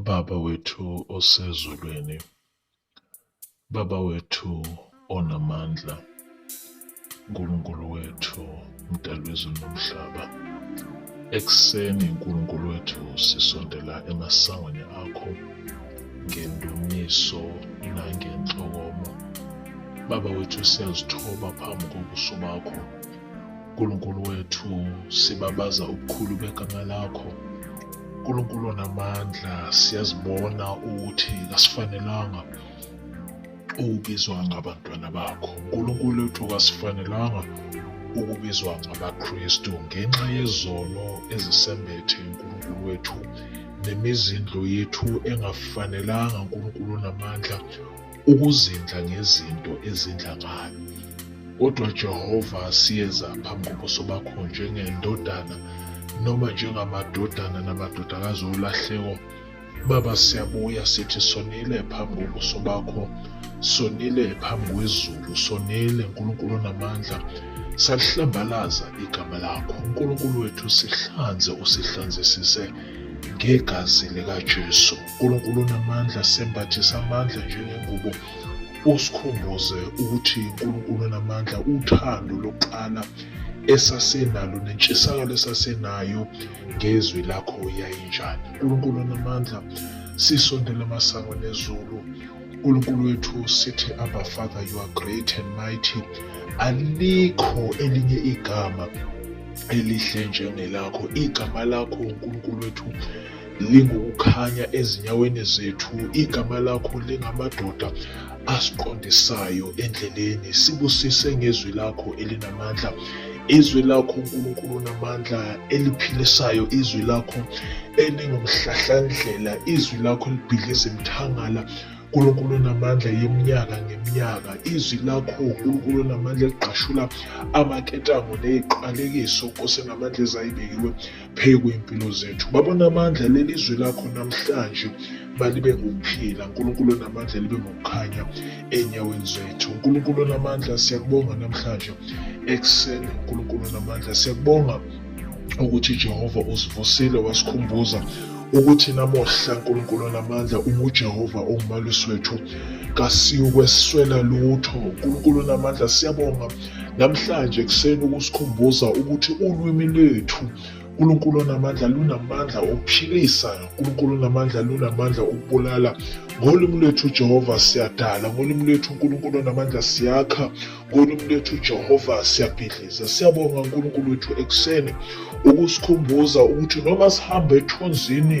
Baba wethu osezulwini, Baba wethu onamandla, Nkulunkulu wethu, mdali wezulu nomhlaba. Ekuseni Nkulunkulu wethu sisondela emasangweni akho ngendumiso nangenhlokomo. Baba wethu siyazithoba phambi kobuso bakho. Nkulunkulu wethu sibabaza ubukhulu begama lakho Nkulunkulu onamandla siyazibona ukuthi kasifanelanga ukubizwa ngabantwana bakho Nkulunkulu wethu kasifanelanga ukubizwa ngabaKristu ngenxa yezono ezisembethe uNkulunkulu wethu nemizindlo yethu engafanelanga uNkulunkulu onamandla ukuzindla ngezinto ezindla ngayo. Kodwa Jehova asiyeza phambi kobuso bakho njengendodana noma njengamadodana namadodakazi olahleko. Baba siyabuya sithi sonile phambi kobuso bakho, sonile phambi kwezulu, sonile Nkulunkulu namandla. Salihlambalaza igama lakho. Nkulunkulu wethu sihlanze usihlanzisise ngegazi likaJesu. uNkulunkulu onamandla sembathisa amandla njengengubo usikhumbuze ukuthi uNkulunkulu onamandla uthando lokuqala esasenalo nentshisakalo esasenayo ngezwi lakho yayinjani uNkulunkulu onamandla sisondela amasango nezulu uNkulunkulu wethu sithi Abba Father you are great and mighty alikho elinye igama elihle njengelakho igama lakho uNkulunkulu wethu lingukukhanya ezinyaweni zethu, igama lakho lingamadoda asiqondisayo endleleni. Sibusise ngezwi lakho elinamandla, izwi lakho uNkulunkulu namandla eliphilisayo, izwi lakho elingumhlahlandlela, izwi lakho libhidliza imithangala uNkulunkulu onamandla yeminyaka ngeminyaka izwi lakho uNkulunkulu onamandla ligqashula amaketango neziqalekiso Nkosi namandla ezayibekiwe phezu kwey'mpilo zethu baba unamandla leli izwi lakho namhlanje balibe ngokuphila unkulunkulu onamandla libe ngokukhanya enyaweni zethu unkulunkulu onamandla siyakubonga namhlanje ekuseni unkulunkulu onamandla siyakubonga ukuthi jehova usivusile wasikhumbuza ukuthi namuhla unkulunkulu onamandla ungujehova ongumalusi wethu kasiyokweswela lutho unkulunkulu onamandla siyabonga Namhlanje ekuseni ukusikhumbuza ukuthi ulwimi lwethu uNkulunkulu onamandla lunamandla okuphilisa uNkulunkulu onamandla lunamandla okubulala ngolimi lwethu uJehova siyadala ngolimi lwethu uNkulunkulu onamandla siyakha ngolimi lwethu uJehova siyabhidliza siyabonga uNkulunkulu wethu ekuseni ukusikhumbuza ukuthi noma sihamba ethunzini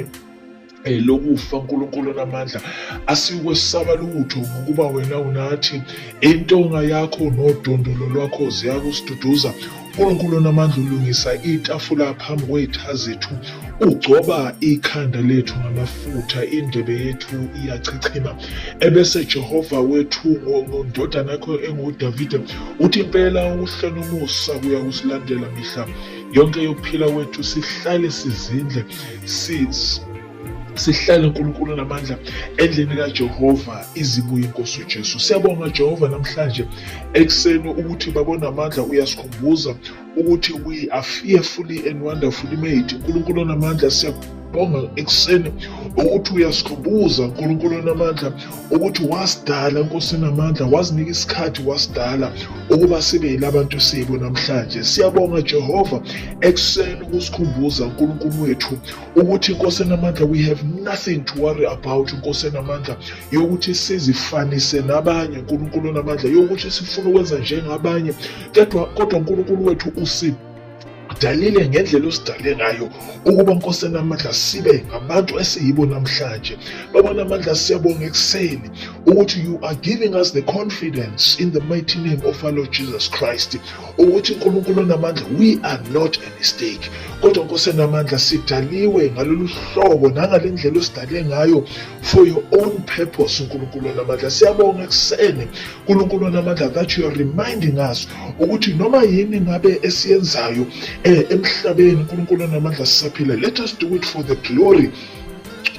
Eh, lokufa uNkulunkulu onamandla asikwesaba lutho ngokuba wena unathi intonga yakho nodondolo lwakho ziyakusiduduza uNkulunkulu onamandla ulungisa itafula phambi kwey'tha zethu ugcoba ikhanda lethu ngamafutha indebe yethu iyachichima ebese Jehova wethu ngondodana yakho engudavide uthi impela uhle nomusa kuyakusilandela mihla yonke yokuphila kwethu sihlale sizindle Sis, sihlale uNkulunkulu namandla endlini kaJehova izibuye inkosi uJesu siyabonga Jehova namhlanje ekuseni ukuthi babo namandla uyasikhumbuza ukuthi we are fearfully and wonderfully made uNkulunkulu namandla siyabonga ekuseni ukuthi uyasikhumbuza uNkulunkulu namandla ukuthi wasidala Nkosi namandla wazinika isikhathi wasidala ukuba sibe yilabantu siyibo namhlanje siyabonga Jehova ekuseni ukusikhumbuza uNkulunkulu wethu ukuthi Nkosi namandla we have nothing to worry about Nkosi namandla yokuthi sizifanise nabanye uNkulunkulu namandla yokuthi sifuna ukwenza njengabanye kodwa kodwa uNkulunkulu wethu usiphi Dalile ngendlela osidale ngayo ukuba Nkosi enamandla sibe ngabantu esiyibo namhlanje. Baba namandla siyabonga ekuseni ukuthi you are giving us the confidence in the mighty name of our Lord Jesus Christ ukuthi uNkulunkulu onamandla we are not a mistake. Kodwa Nkosi enamandla sidaliwe ngalolu hlobo nangale ndlela osidale ngayo for your own purpose uNkulunkulu onamandla. Siyabonga ekuseni uNkulunkulu onamandla that you are reminding us ukuthi noma yini ngabe esiyenzayo eh emhlabeni uNkulunkulu onamandla sisaphila let us do it for the glory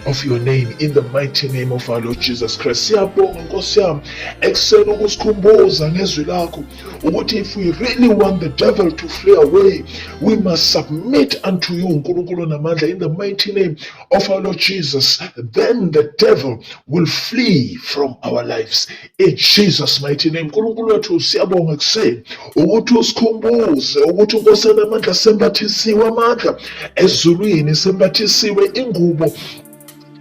of your name in the mighty name of our Lord Jesus Christ. Siyabonga Nkosi yami ekuseni ukusikhumbuza ngezwi lakho ukuthi if we really want the devil to flee away we must submit unto you uNkulunkulu namandla in the mighty name of our Lord Jesus then the devil will flee from our lives In Jesus mighty name uNkulunkulu wethu siyabonga kuseni ukuthi usikhumbuze ukuthi uNkosana amandla sembathisiwe amandla ezulwini sembathisiwe ingubo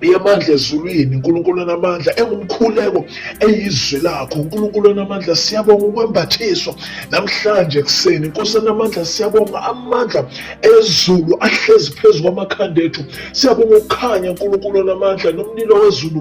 yamandla ezulwini uNkulunkulu namandla engumkhuleko eyizwi lakho uNkulunkulu namandla siyabonga ukwembathiswa namhlanje kuseni Nkosi namandla siyabonga amandla ezulu ahlezi phezu kwamakhanda ethu siyabonga ukukhanya uNkulunkulu namandla nomlilo wezulu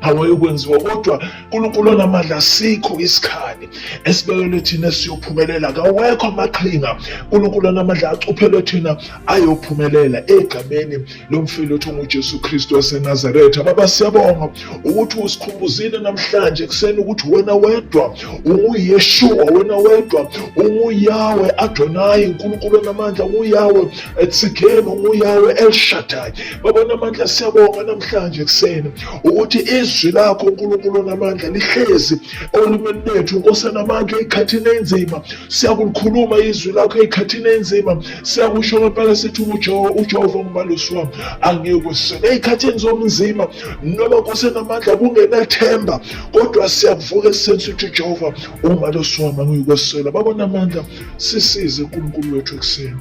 awayokwenziwa kodwa uNkulunkulu onamandla asikho isikhali esibekelwe thina siyophumelela kawekho amaqhinga uNkulunkulu onamandla acuphelwe thina ayophumelela egameni lomfile othi unguJesu Kristu waseNazaretha baba siyabonga ukuthi usikhumbuzile namhlanje kuseni ukuthi wena wedwa unguYeshua wena wedwa unguYawe Adonai uNkulunkulu onamandla unguYawe Sikhele ngomuyawe elishadayo baba namandla siyabonga namhlanje ekuseni ukuthi izwi lakho uNkulunkulu namandla lihlezi olimini lethu Nkosi namandla ezikhathini enzima siyakulikhuluma izwi lakho ezikhathini enzima siyakusho ngempela sithi uJehova uJehova ngumalusi wami angiyokweseka ezikhathini zomzima noma Nkosi namandla kungenathemba kodwa siyakuvuka esensi ukuthi uJehova umalusi wami angiyokwesela baba namandla sisize uNkulunkulu wethu ekuseni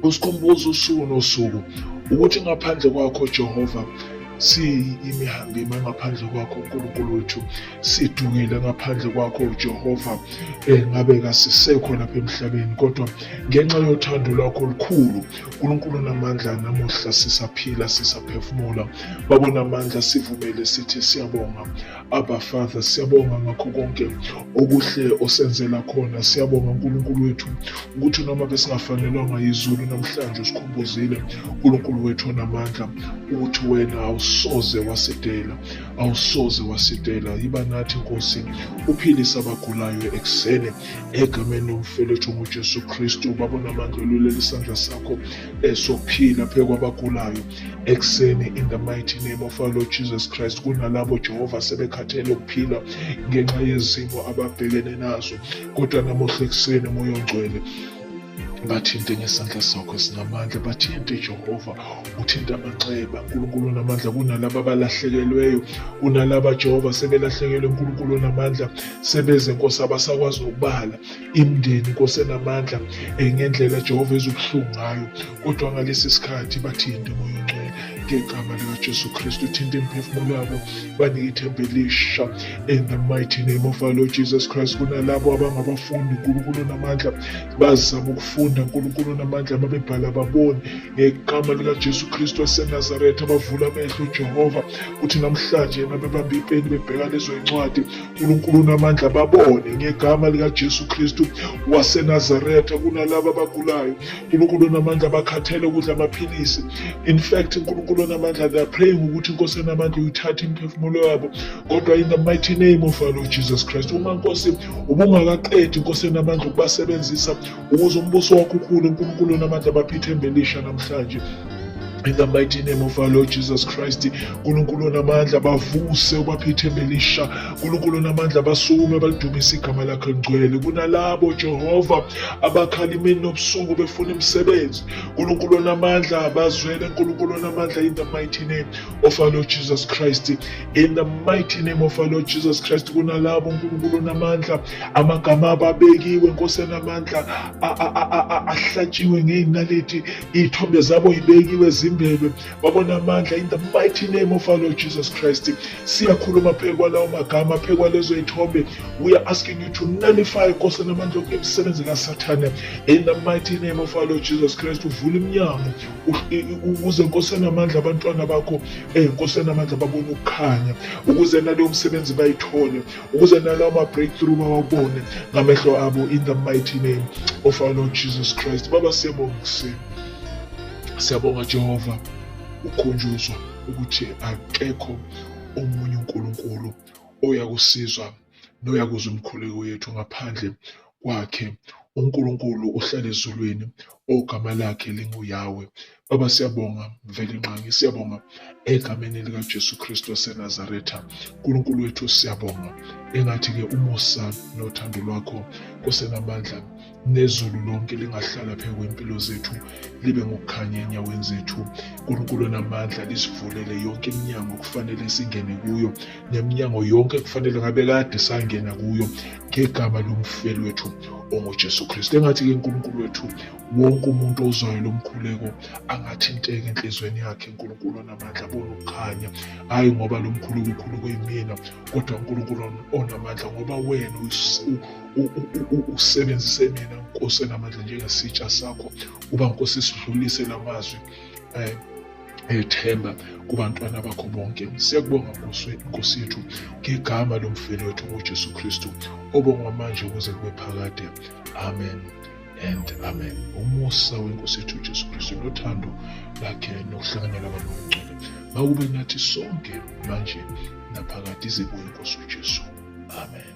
usikhumbuza usuku nosuku ukuthi ngaphandle kwakho Jehova siyimihambima ngaphandle kwakho uNkulunkulu wethu sidungile ngaphandle kwakho uJehova eh, ngabe kasisekho lapha emhlabeni kodwa ngenxa yothando lwakho olukhulu uNkulunkulu namandla namuhla sisaphila sisaphefumula babona amandla sivumele sithi siyabonga Abba Father, siyabonga ngakho konke okuhle osenzela khona. Siyabonga uNkulunkulu wethu ukuthi noma besingafanelwanga yizulu namhlanje usikhumbuzile uNkulunkulu wethu onamandla ukuthi wena awusoze wasidela, awusoze wasidela. Yiba nathi Nkosi, uphilise abagulayo ekuseni egameni lomfelethu nguJesu Kristu. Baba onamandla, ululela isandla sakho esokuphila phezu kwabagulayo. ekuseni in the mighty name of our Lord Jesus Christ kunalabo Jehova sebekhathele ukuphila ngenxa yezimo ababhekene nazo kodwa namuhla ekuseni moya ongcwele bathinte ngesandla sakho esinamandla bathinte jehova uthinte amanxeba nkulunkulu namandla kunalaba abalahlekelweyo kunalaba jehova sebelahlekelwe nkulunkulu namandla sebeze nkosi abasakwazi ukubala imndeni kosenamandla eh, ngendlela Jehova ezubuhlungu ngayo kodwa ngalesi sikhathi bathinte moya ongcwele ngegama likaJesu Kristu thinte imiphefumulo yabo banike ithemba elisha in the mighty name of our Lord Jesus Christ kunalabo abangabafundi uNkulunkulu namandla bazama ukufunda uNkulunkulu namandla mabebhala baboni ngegama likaJesu Kristu waseNazaretha bavula amehlo uJehova uthi namhlanje nabebamba ipeni bebheka lezo incwadi uNkulunkulu unamandla babone ngegama likaJesu Kristu waseNazaretha kunalabo abagulayo uNkulunkulu unamandla bakhathele ukudla amaphilisi in fact uNkulunkulu unamandla they are praying ukuthi inkosi enamandla uyithathe imiphefumulo yabo kodwa in the mighty name of our Lord Jesus Christ uma nkosi ubungakaqedi inkosi enamandla ukubasebenzisa ukuze umbuso wakho ukhulu unkulunkulu namandla abapha ithemba elisha namhlanje in the mighty name of our lord jesus christ nkulunkulu onamandla bavuse ubaphithembe lisha nkulunkulu onamandla basukume balidumise igama lakhe lingcwele kunalabo jehova abakhala imini nobusuku befuna imisebenzi nkulunkulu onamandla bazwele nkulunkulu onamandla in the mighty name of our lord jesus christ in the mighty name of our lord jesus christ kunalabo nkulunkulu onamandla amagama ababekiwe nkosenamandla ahlatshiwe ngey'naliti iy'thombe zabo yibekiwe zimbelwe babona amandla in the mighty name of our lord jesus christ siyakhuluma phezu kwalawo magama phezu kwalezo y'thombe we are asking you to nullify nkosenamandla yokuke imisebenzi kasathane in the mighty name of our lord jesus christ uvula iminyango ukuze nkosenamandla abantwana bakho um nkosenamandla babone ukukhanya ukuze naleyo msebenzi bayithole ukuze nalawo ma-breakthrough bawabone ngamehlo abo in the mighty name of our lord jesus christ baba siyabonga kuseni siyabonga jehova ukhunjuzwa ukuthi akekho omunye unkulunkulu oyakusizwa noyakuzwa umkhuleko yethu ngaphandle kwakhe uNkulunkulu uhlala ezulwini ogama lakhe linguYahweh baba siyabonga mveli nqangi siyabonga egameni likaJesu Kristu waseNazaretha uNkulunkulu wethu siyabonga engathi ke umusa nothando lwakho kusenamandla nezulu lonke lingahlala phezu kwempilo zethu libe ngokukhanya enyaweni zethu uNkulunkulu namandla lisivulele yonke iminyango kufanele singene kuyo neminyango yonke kufanele ngabe kade sangena kuyo ngegama lomfeli wethu onguJesu Kristu. Engathi-ke uNkulunkulu wethu wonke umuntu ozwayo lo mkhuleko angathinteka enhlizweni yakhe uNkulunkulu onamandla abone ukukhanya hhayi ngoba lo mkhuleko ukhulu kuyimina kodwa uNkulunkulu onamandla ngoba wena usebenzise mina nkosi enamandla njengesitsha sakho uba nkosi sidlulise la mazwi eh, ethemba kubantwana bakho bonke siyakubonga nkosi yethu ngegama lomfeli wethu ujesu kristu obongwa manje kuze kube phakade amen and amen umusa wenkosi yethu ujesu kristu nothando lakhe nokuhlanganyela kwamangcwele makube nathi sonke manje naphakade izibuye nkosi ujesu amen